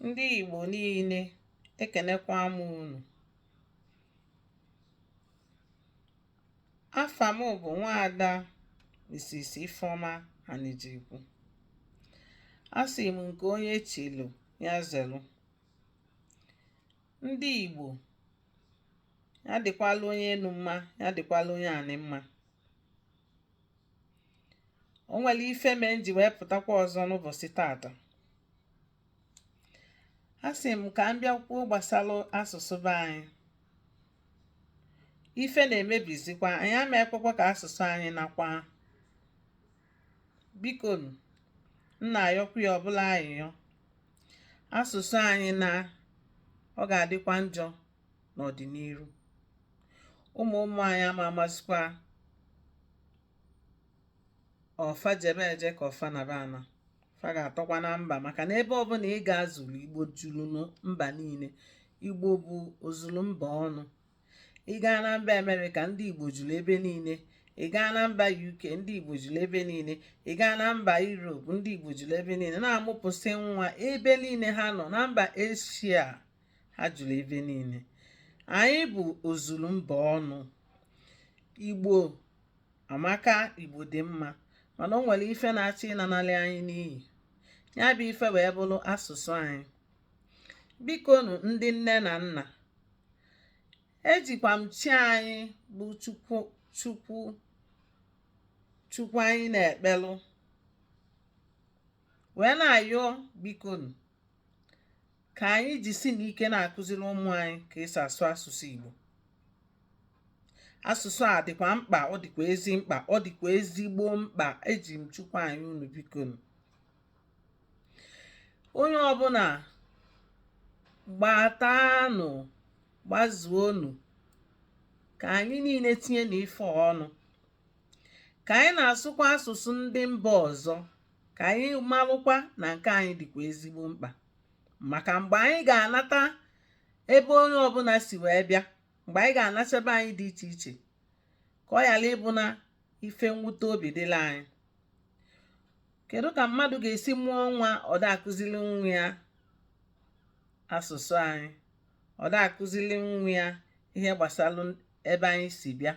Ndị Igbo niile ekenekwa m unu. Afa m bụ nwaada Mrs. Ifeọma Anịjikwu. Asị m nke onye chilu ya zelu. Ndị Igbo, ya dịkwalụ onye enu mma, ya dịkwalụ onye anị mma. o nwelu ife mee m ji wee pụtakwa ọzọ n'ụbọsị tata a sị m ka m bịa kwuo gbasalụ asụsụ be anyị ife na-emebizikwa anyị ama ekwekwa ka asụsụ anyị nakwa biko m na-ayọkwa onye ọbụla ayịyọ asụsụ anyị naa ọ ga-adịkwa njọ n'ọdịniru ụmụ ụmụ anyị ama amazikwa ọ fa jebe eje ka ọ fa naba ana fa ga-atọkwa na mba maka na ebe ọbụna ị gazulu igbo julu mba niine igbo bụ ozulu mba ọnụ ị gaa na mba america ndị igbo julu ebe niine ị gaa na mba uk ndị igbo julu ebe niine ị gaa na mba europe ndị igbo julu ebe niine na-amụpụsị nwa ebe niine ha nọ na mba asia ha julu ebe niile anyị bụ ozulu mba ọnụ igbo amaka igbo dị mma mana o nwelu ife na-achọ ịnanalị anyị n'iyi ya bụ ife wee bụlụ asụsụ anyị bikonụ ndị nne na nna ejikwa m chi anyị bụ chukwu anyị na-ekpelụ wee na-ayọ bikonụ ka anyị jisi n'ike na-akụziri ụmụ anyị ka e si asụ asụsụ Igbo asụsụ a dịkwa mkpa ọ dịkwa ezi mkpa ọ dịkwa ezigbo mkpa eji m chukwu ayọ unu bikonụ onye ọbụna gbatanụ gbazuonụ ka anyị niile tinye na ife ọnụ ka anyị na-asụkwa asụsụ ndị mba ọzọ ka anyị malụkwa na nke anyị dịkwa ezigbo mkpa maka mgbe anyị ga-anata ebe onye ọbụna si wee bịa mgbe anyị ga-anata ebe anyị dị iche iche ka ọ ghala ịbụ na ife mwute obi dịlụ anyị kedu ka mmadụ ga-esi mụọ nwa ọ da-akụzili nwa ya asụsụ anyị ọ da-akụzili nwa ya ihe gbasalụ ebe anyị si bịa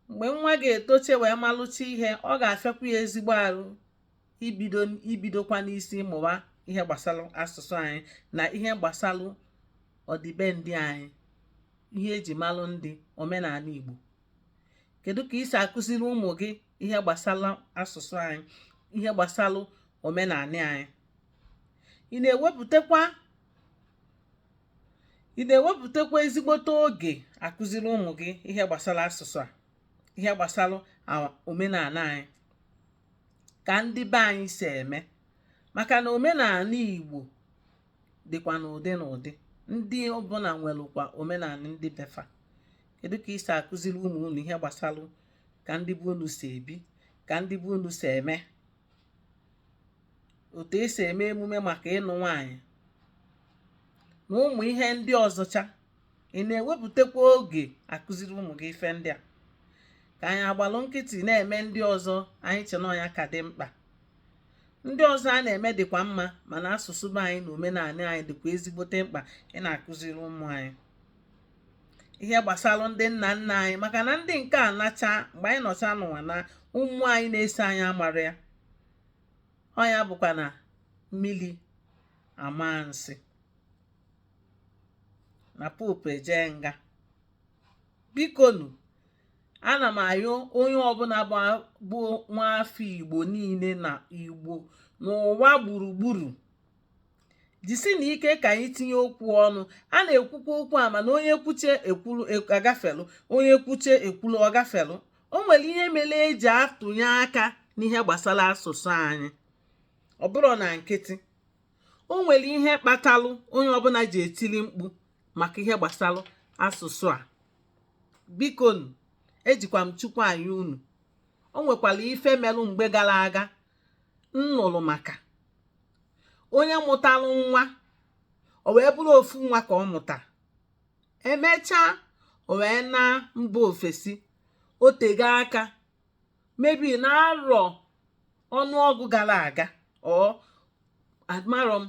mgbe nwa ga-etoche wee malụcha ihe ọ ga-afịakwa ya ezigbo arụ ibido ibidokwa n'isi mụwa ihe gbasara asụsụ anyị na ihe gbasara ọdịbendị anyị ihe eji malụ ndị omenaanị Igbo kedu ka i si akụziri ụmụ gị ihe gbasara asụsụ anyị ihe gbasara omenaanị anyị ị na-ewepụtakwa ị na-ewepụtakwa ezigbote oge akụziri ụmụ gị ihe gbasara asụsụ a ihe gbasara omenaanị anyị ka ndị be anyị si eme maka na omenaanị Igbo dịkwa n'ụdị n'ụdị ndị ọbụla nwerekwa omenaanị ndị be fa kedu ka i si akụziri ụmụ unu ihe gbasara ka ndị be unu si ebi ka ndị be unu si eme otu esi eme emume maka ịnụ nwaanyị na ụmụ ihe ndị ọzọcha ị na-ewepụtakwa oge akụziri ụmụ gị ife ndị a ka anyị agbalụ nkịtị na-eme ndị ọzọ anyị che na ọ nya ka dị mkpa ndị ọzọ a na-eme dịkwa mma mana asụsụ be anyị na omenaanị anyị dịkwa ezigbote mkpa ịna-akụziri ụmụ anyị ihe gbasara ndị nna nna anyị maka na ndị nke anacha mgbe anyị nọcha n'ụwa na ụmụ anyị na-eso anyị amarọ ya ọ nya bụkwa na mmiri amaa nsị na pọpọ ejee nga bikonu ana m ayọ onye ọbụla bụ nwaafọ igbo niile na igbo n'ụwa gburugburu jisinụ ike ka anyị tinye okwu ọnụ a na-ekwukwa okwu a mana onye kwuche ekwulu agafelụ onye kwuche ekwulu ọ gafelụ o nwere ihe mere eji atụnye aka n'ihe gbasara asụsụ anyị ọ bụrọ na nkịtị o nwere ihe kpatalụ onye ọbụla ji etili mkpu maka ihe gbasara asụsụ a bikonu ejikwa m chukwu ayọ unu o nwekwara ife melụ mgbe gara aga m nụrụ maka onye mụtalụ nwa o wee bụrụ ofu nwa ka ọ mụta emechaa o wee naa mba ofesi o tego aka maybe na arọ ọnụọgụ gara aga ọ amarọ m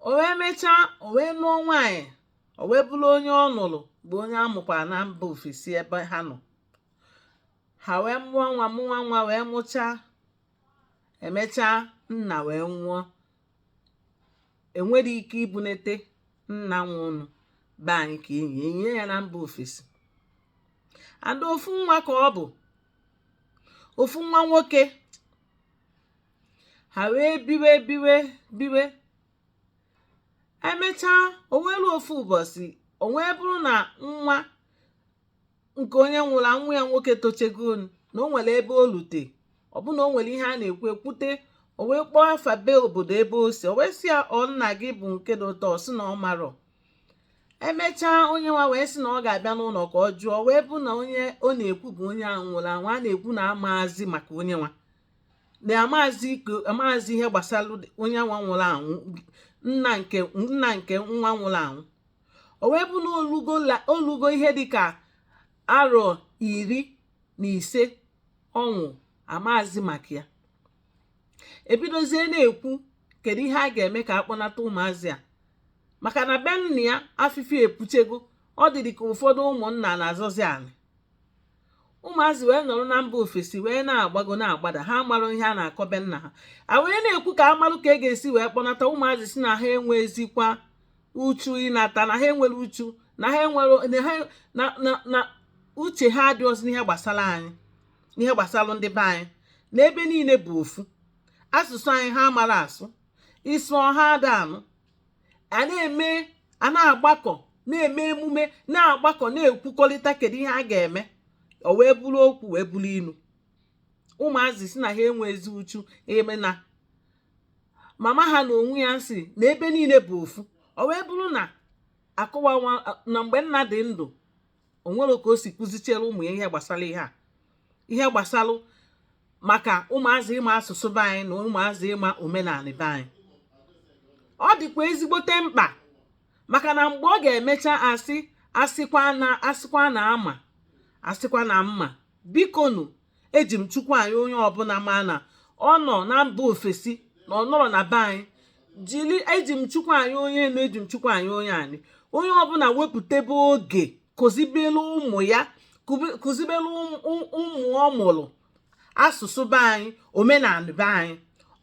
o wee mechaa o wee nụọ nwaanyị o wee bụrụ onye ọ nụrụ bụ onye amụkwara na mba ofesi ebe ha nọ ha wee mụọ nwa mụọ nwa wee mụchaa emechaa nna wee nwụọ enwerọ ike ibunata nna nwa ụnọ be anyị ka enie enie ya na mba ofesi ada ofu nwa ka ọ bụ ofu nwa nwoke ha wee biwe biwe biwe emechaa o nwelu ofu ụbọsị o wee bụrụ na nwa nke onye nwụrụ anwụ ya nwoke tochego na o nwere ebe o lute ọ bụ na o nwere ihe a na-ekwu ekwute o wee kpọọ afa be obodo ebe o si o wee sị ya ọ nna gị bụ nke dị ụtọ sị na ọ marọ emechaa onye nwa wee sị na ọ ga-abịa n'ụnọ ka ọ jụọ wee bụ na onye ọ na-ekwu bụ onye ahụ nwụrụ anwụ a na-ekwu na amaazị maka onye nwa na amaazị iko amaazị ihe gbasara onye nwa nwụrụ anwụ nna nke nna nke nwa nwụrụ anwụ o wee bụ na o lugo o lugo ihe dịka arọ iri na ise ọ nwụ amazi maka ya ebidozie na-ekwu kedu ihe a ga-eme ka a kpọnata ụmụazị a maka na be nna ya afịfịa epuchego ọ dịdị ka ụfọdụ ụmụnna na-azọzi anị ụmụazị wee nọrọ na mba ofesi wee na-agbago na-agbada ha amarọ ihe a na-akọ be nna ha a wee na-ekwu ka a malụ ka e ga-esi wee kpọnata ụmụazị sị na ha enwezikwa uchu ịnata na ha enwerọ uchu na ha enwerọ na ha na na na uche ha adịrọzi n'ihe gbasara anyị n'ihe gbasara ndị be anyị na ebe niile bụ ofu asụsụ anyị ha amarọ asụ ị sụọ ha ada anụ a na-eme a na-agbakọ na-eme emume na-agbakọ na-ekwukọrịta kedu ihe a ga-eme o wee bụrụ okwu wee bụrụ inu ụmụazị sị na ha enwezi uchu eme na mama ha na onwe ya sị na ebe niile bụ ofu o wee bụrụ na akọwa na mgbe nna dị ndụ o nwere ka o si kụzichiere ụmụ ya ihe gbasara ihe a ihe gbasara maka ụmụazị ịma asụsụ be anyị na ụmụazị ịma omenanị be anyị ọ dịkwa ezigbote mkpa maka na mgbe ọ ga-emecha asị asịkwa na asịkwa na ama asịkwa na m ma bikonụ eji m chukwu ayọ onye ọbụna ma na ọ nọ na mba ofesi na ọ nọrọ na be anyị jiri eji m chukwu ayọ onye enu eji m chukwu ayọ onye anị onye ọbụna wepụtebe oge kụzibelu ụmụ ya kụzibelu ụmụ ọ mụrụ asụsụ be anyị omenanị be anyị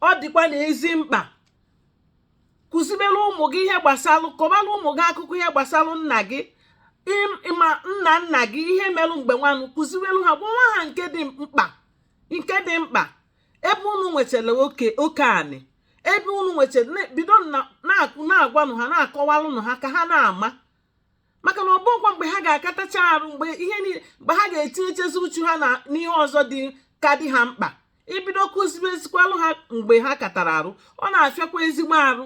ọ dịkwa na ezi mkpa kụzibere ụmụ gị ihe gbasalụ kọbara ụmụ gị akụkọ ihe gbasalụ nna gị ma nna nna gị ihe merụ mgbe nwanụ kụziwelu ha gwawa ha nke dị mkpa nke dị mkpa ebe unu nwetara oke oke anị ebe unu nwetara bido na-agwanụ ha na-akọwalụnụ ha ka ha na-ama maka na ọ bụkwa mgbe ha ga-akatacha arụ mgbe ihe niile mgbe ha ga-etinyechezi uchu ha na n'ihe ọzọ dị ka dị ha mkpa ibido kụzibezikwalụ ha mgbe ha katara arụ ọ na-afịakwa ezigbo arụ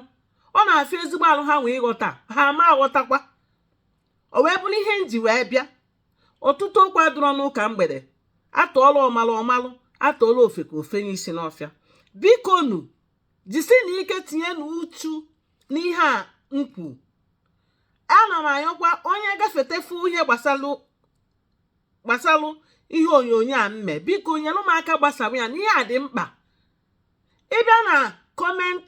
ọ na-afịa ezigbo arụ ha wee ghọta ha ma aghọtakwa o wee bụrụ ihe nji wee bịa ọtụtụ okwu adịrọ n'ụka mgbede atụọla ọmalụ ọmalụ atụọla ofeke o fenye isi n'ọfịa biko nu jisie nụ ike tinye nụ uchu n'ihe a m kwu ana m ayọkwa onye gafete fụ ihe gbasalụ gbasalụ ihe onyonyo a mme biko nyere m aka gbasaa ya na ihe a dị mkpa ị bịa na comment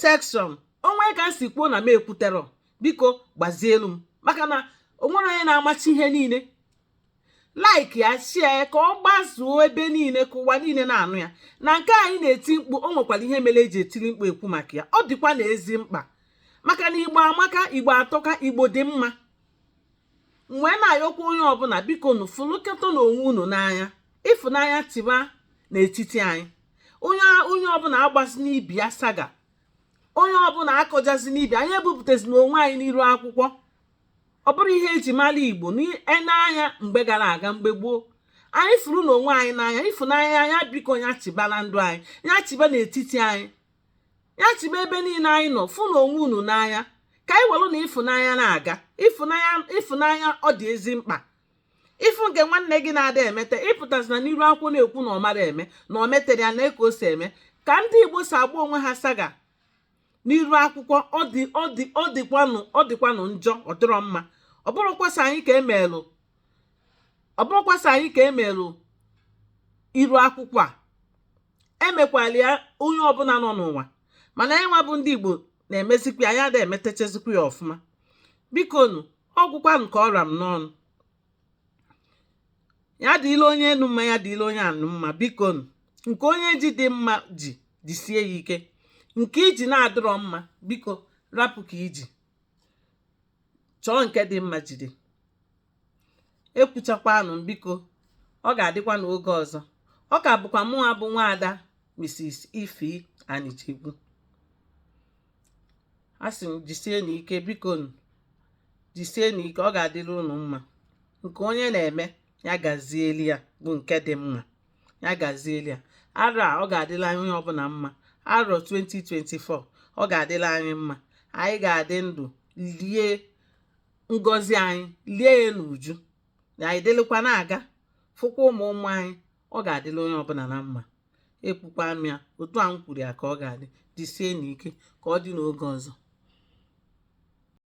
section o nwee ka m si kwuo na m ekwuterọ biko gbazielụ m maka na o nwerọ onye na-amacha ihe niile like ya share ya ka ọ gbazuo ebe niile ka ụwa niile na-anụ ya na nke anyị na-eti mkpu o nwekwara ihe mere eji etiri mkpu ekwu maka ya ọ dịkwanụ ezi mkpa maka na igbo amaka igbo atọka igbo dị mma m wee na-ayọkwa onye ọbụla biko nu fụlịkọta nụ onwe unu n'anya ịfụnanya chịba n'etiti anyị onye onye ọbụla agbazina ibe ya saga onye ọbụla akọjazina ibe anyị ebupụtazina onwe anyị n'iru akwụkwọ ọ bụrụ ihe eji mara igbo n'anya e mgbe gara aga mgbe gboo anyị fụrụ nụ onwe anyị n'anya ịfụnanya anya biko ya chịba na ndụ anyị ya chịba n'etiti anyị ya chịba ebe niile anyị nọ fụ nụ onwe unu n'anya ka anyị welụ nụ ịfụnanya na-aga ịfụnanya ịfụnanya ọ dị ezi mkpa ị fụ nke nwanne gị na-ada emete ị pụtazina n'iru akwụkwọ na-ekwu na ọ marọ eme na o meterọ ya nee ka o si eme ka ndị igbo si agba onwe ha saga n'iru akwụkwọ ọ dị ọ dị ọ dịkwanụ ọ dịkwanụ njọ ọ dịrọ mma ọ bụrọkwa sọ anyị ka emelụ ọ bụrọkwa sọ anyị ka emelụ iru akwụkwọ a emekwalụ ya onye ọbụla nọ n'ụwa mana anyị nwa bụ ndị Igbo na-emezikwa ya ada emetechezikwa ya ọfụma biko nụ ọ gwụkwanụ ka ọ ra m n'ọnụ ya dịlị onye enu mma ya dịlị onye ana mma biko nke onye ji dị mma jidesie ya ike nke i ji na-adịrọ mma biko rapụ nke i ji chọọ nke dị mma jide ekwuchakwanụ biko ọ ga-adịkwa n'oge ọzọ ọ ka bụkwa mụnwa bụ nwaada Mrs. Ifeanyichukwu a sị m jisie nụ ike biko nu jisie nụ ike ọ ga-adịrị unu mma nke onye na-eme ya gazieli ya bụ nke dị mma ya gazieli ya arọ a ọ ga-adịlị anyị onye ọbụla mma arọ 2024 ọ ga-adịlị anyị mma anyị ga-adị ndụ lie ngọzi anyị lie ya n'uju na anyị dịlịkwa na-aga fụkwa ụmụ ụmụ anyị ọ ga-adịlị onye ọbụla na mma ekwukwa m ya otu a m kwuru ya ka ọ ga-adị jisie nụ ike ka ọ dị n'oge ọzọ